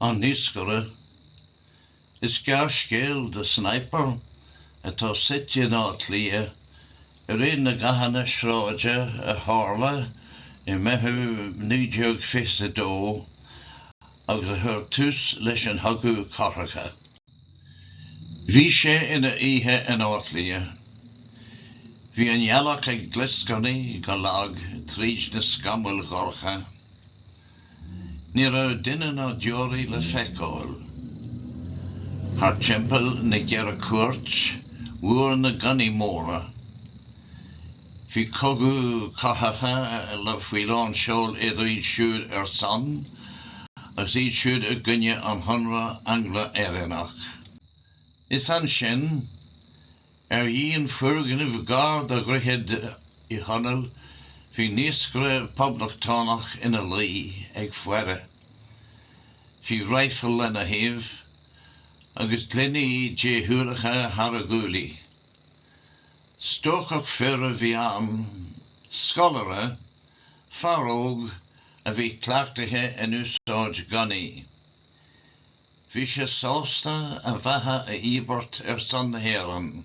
An Naoscaire. Is gearrscéal é The Sniper atá suite in Áth Cliath i ré na gcathanna sráide a tharla i Meitheamh 1922 agus a chuir tús leis an gCogadh Cathartha. Bhí sé ina oíche in Áth Cliath. Bhí an ghealach ag glioscarnaigh go lag tríd na scamaill dhorcha. Ní raibh duine ná deoraí le feiceáil. Thart timpeall na gCeithre Cúirt bhúir na gunnaí móra, bhí cogadh cathartha faoi lán seoil idir iad siúd ar son agus iad siúd i gcoinne an Chonradh Angla-Éireannach. Is ansin Ar dhíon foirgnimh gar do Dhroichead Uí Chonaill bhí naoscaire Poblachtánach ina luí ag faire. Bhí raidhfil lena thaobh agus gloiní déshúileacha thar a ghuaillí. Stócach fir a bhí ann, scoláire, fear óg a bhí cleachtaithe in úsáid gunnaí. Bhí sé sásta a bheatha a íobairt ar son na hÉireann.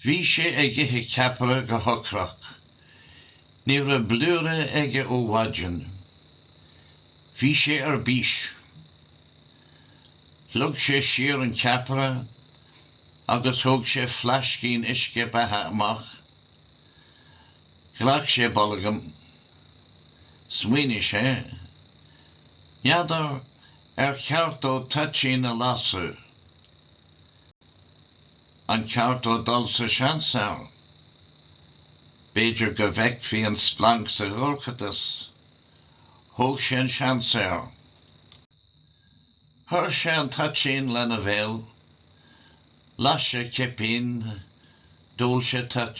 Bhí sé ag ithe ceapaire go hocrach. Ní raibh blúire ite aige ó mhaidin. Bhí sé ar bís. Shlog sé siar an ceapaire agus thóg sé flaiscín uisce beatha amach. Ghlac sé bolgam. Smaoinigh sé. N'fheadar ar cheart dó toitín a lasadh? Ar cheart dó dul sa seans air? B'fhéidir go bhfeicfí an splanc sa dorchadas. Thóg sé an seans air. Chuir sé an toitín lena bhéal. Las sé cipín. D'ól sé toit.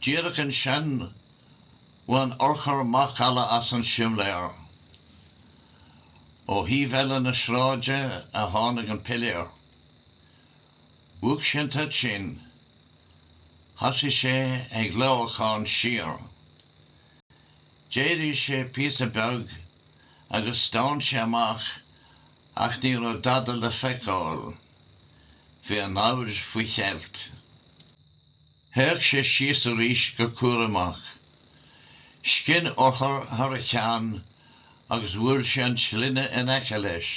Díreach ansin, bhain urchar macalla as an simléar. Ó thaobh eile na sráide a tháinig an piléar. Mhúch sé an toitín. Thosaigh sé ag lámhacán siar. D'éirigh sé píosa beag agus stán sé amach ach ní raibh dada le feiceáil. Bhí an namhaid faoi cheilt. Théadh sé síos arís go cúramach. Scinn urchar thar a cheann agus bhuail sé an tslinne in aice leis.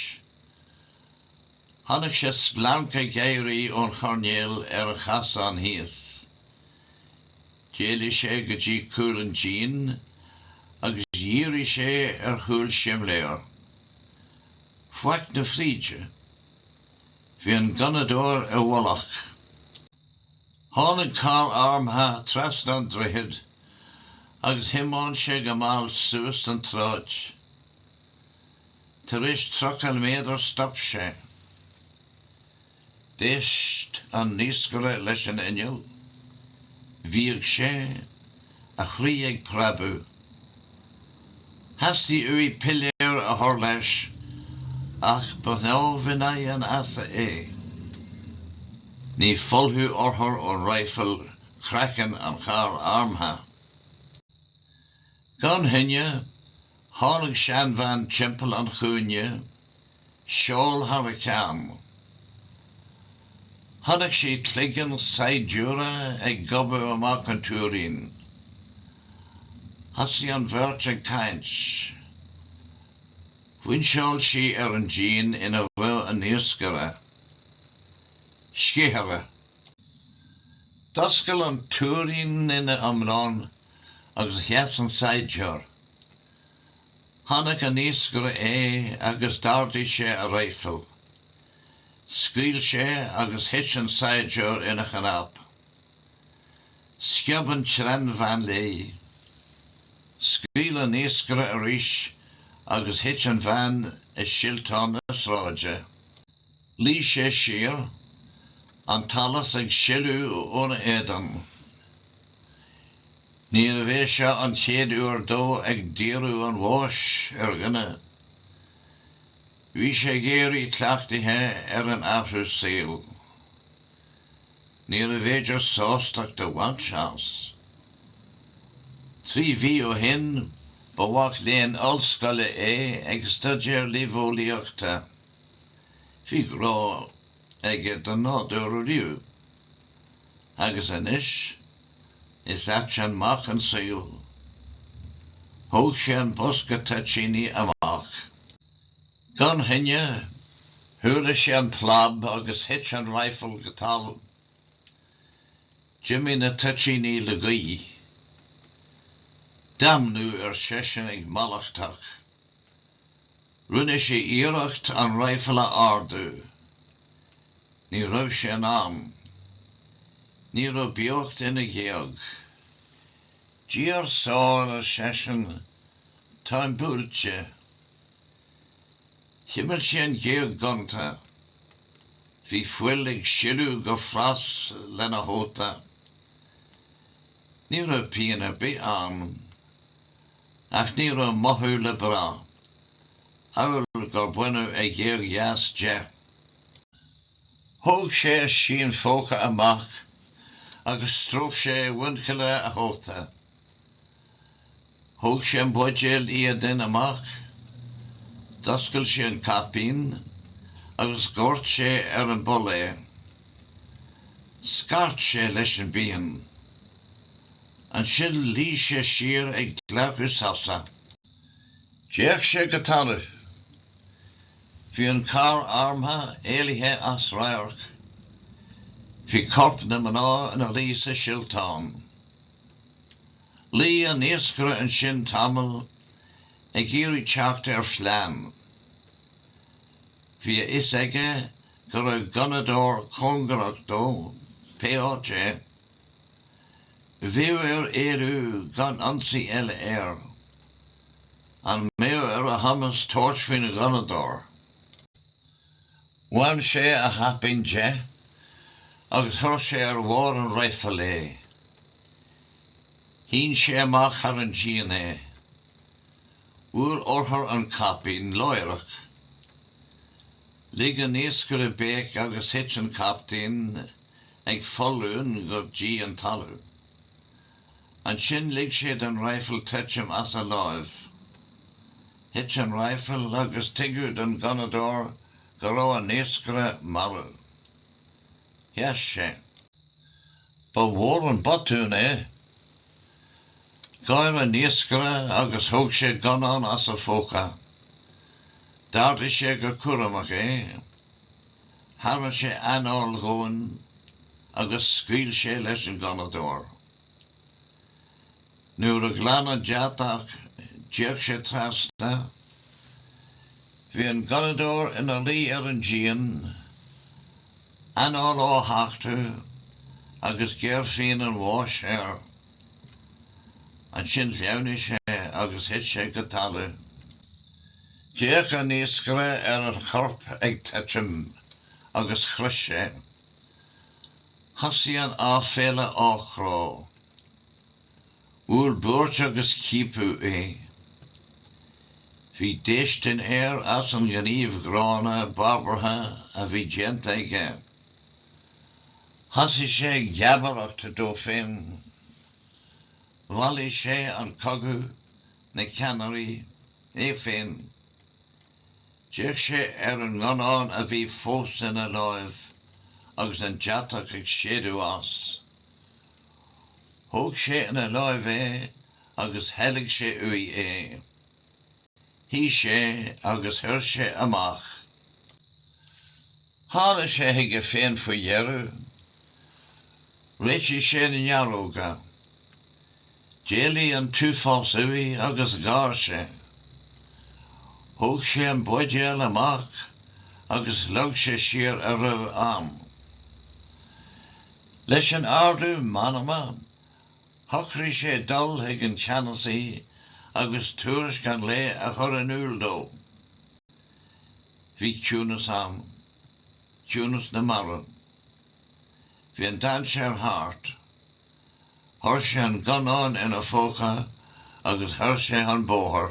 Chonaic sé splanc ag éirí ón choirnéal ar an chasán thíos. D'éalaigh sé go dtí cúl an dín agus dhírigh sé ar chúl simléar. Faic na fríde. Bhí an gunnadóir i bhfolach. Tháinig carr armtha trasna an droichid agus thiomáin sé go mall suas an tsráid. Tar éis tríocha méadar stop sé. D'éist an naoscaire leis an inneall. Bhíog sé, a chroí ag preabadh. Theastaigh uaidh piléar a chur léi ach ba shnámh in aghaidh an easa é. Ní phollfadh urchar ón raidhfil craiceann an charr armtha. Gan choinne, tháinig seanbhean timpeall an chúinne, seál thar a ceann. Chonaic sé cloigeann saighdiúra ag gobadh amach ón túirín. Thosaigh an bheirt ag caint. Phointeáil sí ar an díon ina luigh an naoscaire, sceithire. D'oscail an túirín ina iomlán agus sheas an saighdiúir. Chonaic an naoscaire é agus d'ardaigh sé a raidhfil. Scaoil sé agus thit an saighdiúir ina chnap. Sciob an tseanbhean léi. Scaoil an naoscaire arís agus thit an bhean i silteán na sráide. Luigh sé siar, an t-allas ag sileadh óna éadan. Níorbh é seo an chéad uair dó ag díriú an bháis ar dhuine. Bhí sé ag éirí cleachtaithe ar an athrú saoil. Níorbh fhéidir sástacht a bhaint as. Trí mhí ó shin, ba mhac léinn ollscoile é ag staidéar luibheolaíochta. Bhí grá aige don nádúr ariamh. Agus anois, is ait an mac an saol. Thóg sé an bosca toitíní amach. Gan choinne, chuala sé an plab agus thit an raidhfil go talamh. D'imigh na toitíní le gaoth. Damnú, ar seisean ag mallachtach. Rinne sé iarracht an raidhfil a ardú. Ní raibh sé in ann. Ní raibh beocht ina ghéag. Dia ár sábháil, ar seisean, táim buailte. Chimil sé an ghéag ghonta. Bhí fuil ag sileadh go fras lena chóta. Ní raibh pian ar bith ann. Ach ní raibh mothú le brath, amhail gur baineadh a ghéag dheas de. Thóg sé a scian phóca amach agus stróic sé muinchille a chóta. Thóg sé an buidéal iaidín amach, d'oscail sé an caipín agus dhóirt sé ar an bpoll é. Scairt sé leis an bpian. Ansin luigh sé siar ag glacadh sosa. D'fhéach sé go talamh. Bhí an carr armtha éalaithe as radharc. Bhí corp na mná ina luí sa silteán. Luigh an naoscaire ansin tamall ag iarraidh teacht ar phlean. Bhí a fhios aige go raibh gunnadóir cóngarach dó, pé áit é. Bheadh air éalú gan ionsaí eile air. An mbeadh ar a chumas tabhairt faoin ghunnadóir? Bhain sé a chaipín de agus chuir sé ar bharr an raidhfil é. Shín sé amach thar an díon é. Bhuail urchar an caipín láithreach. Lig an naoscaire béic agus thit an caipín ag foluain go dtí an talamh. Ansin lig sé don raidhfil titim as a láimh. Thit an raidhfil agus tuigeadh don ghunnadóir go raibh an naoscaire marbh. Sheas sé. Ba mhór an botún é. Gháir an naoscaire agus thóg sé gunnán as a phóca. D'ardaigh sé go cúramach é. Tharraing sé anáil dhomhain agus scaoil sé leis an ghunnadóir. Nuair a ghlan an deatach, d'fhéach sé trasna. Bhí an gunnadóir ina luí ar an díon, anáil á thachtadh agus géarphian an bháis air. Ansin shleamhnaigh sé agus thit sé go talamh. D'fhéach an naoscaire ar an chorp ag titim agus chroith sé. Thosaigh an aiféala á chrá. Bhuail buairt agus ciapadh é. Bhí déistin air as an ngníomh gránna, barbartha a bhí déanta aige. Thosaigh sé ag geabaireacht dó féin. Mhallaigh sé an cogadh, na ceannairí, é féin. D'fhéach sé ar an ngunnán a bhí fós ina láimh agus an deatach ag séideadh as. Thóg sé ina láimh é agus theilg sé uaidh é. Shuigh sé agus chuir sé amach. Tháinig sé chuige féin faoi dheireadh. Réitigh sé na néaróga. D'éalaigh an t-uafás uaidh agus gháir sé. Thóg sé an buidéal amach agus shlog sé siar a raibh ann. Leis an ardú meanma, shocraigh sé dul chuig an cheannasaí agus tuairisc an lae a chur in iúl dó. Bhí ciúnas ann. Ciúnas na marbh. Bhí an dainséar thart. Chuir sé an gunnán ina phóca agus bhuail sé an bóthar.